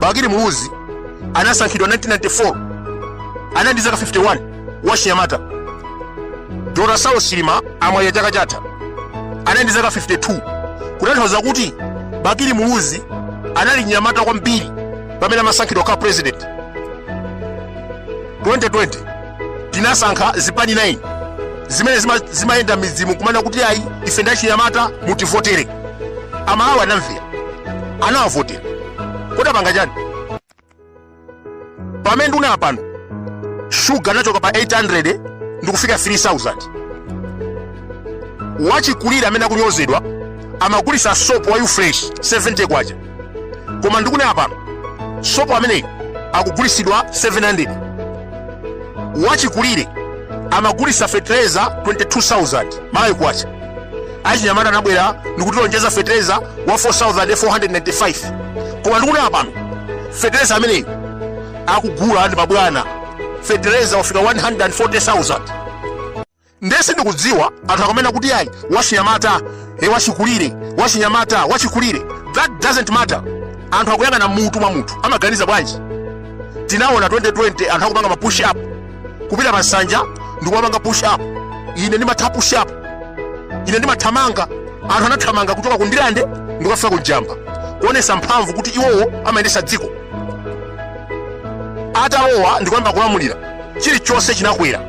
Bakili Muluzi anasankhidwa 1994 anali ndi zaka 51 wachinyamata. Dr. Saulos Chilima amamwalira chaka chatha anali ndi zaka 52 kutanthauza kuti Bakili Muluzi anali mnyamata kwambiri pamene amasankhidwa kukhala president 2020 tinasankha zipani 9 zimene zima- zimayenda midzimu kumana kuti ayi ife ndachinyamata mutivotere amalawi anamvera anawavotera kodi apanga chani pamene ndikunena pano shuga anachoka pa 800 ndikufika 3000 wachikulire amene akunyozedwa amagulisa sopo wa ufresh 70 kwacha koma ndikunena pano sopo ameneyi akugulisidwa 700 wachikulire amagulisa fetereza 22000 malawi kwacha achinyamata anabwera ndikutilonjeza fetereza wa 4495 koma ndikunena pano fetereza ameneyi akugula ndi mabwana fetereza wafika 140000 nde sindikudziwa anthu akamanena kuti ayi wachinyamata e wachikulire wachinyamata wachikulire that doesn't matter anthu akuyang'ana mutu mwa munthu amaganiza bwanji tinaona 2020 anthu akupanga ma push up kupita pa nsanja ndikumapanga push up ine ndimatha push up ine ndimathamanga anthu anathamanga kuchoka ku ndirande ndikukafika ku njamba kuonesa mphamvu kuti iwowo amayendesa dziko atalowa ndikuyamba kulamulira chilichonse chinakwera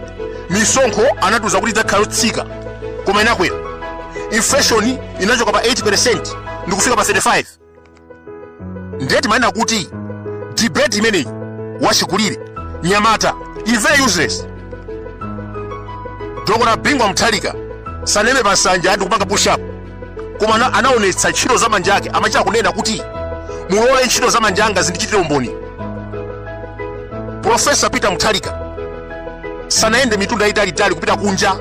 misonkho anatiuza kuti idzakhala yotsika koma inakwera inflation inachoka pa 8 ndikufika pa 35 ndiye timanena kuti debate imeneyi wachikulire mnyamata is very useless dr bingu wa mutharika sanaime pa nsanja ndikupanga push up koma ana- anaonetsa ntchito za manja ake amachita kunena kuti mulole ntchito za manja anga zindichitire umboni profesa peter mutharika sanayende mitunda italitali kupita kunja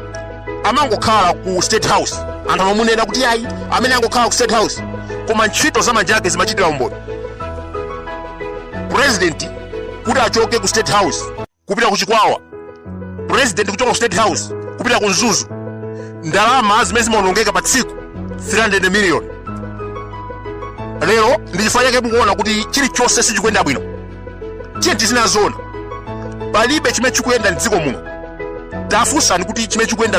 amangokhala ku state house anthu amamunena kuti ayi amene angokhala ku state house koma ntchito za manja ake zimachitira umboni president kuti achoke ku state house kupita ku chikwawa president kuchoka ku state house kupita ku mzuzu ndalama zimene zimaonongeka pa tsiku 300 million lero ndi chifukwa chake mukuona kuti chilichonse sichikuyenda bwino tiyeni tizinena zoona palibe chimene chikuyenda mdziko muno tafunsani kuti chimene chikuyenda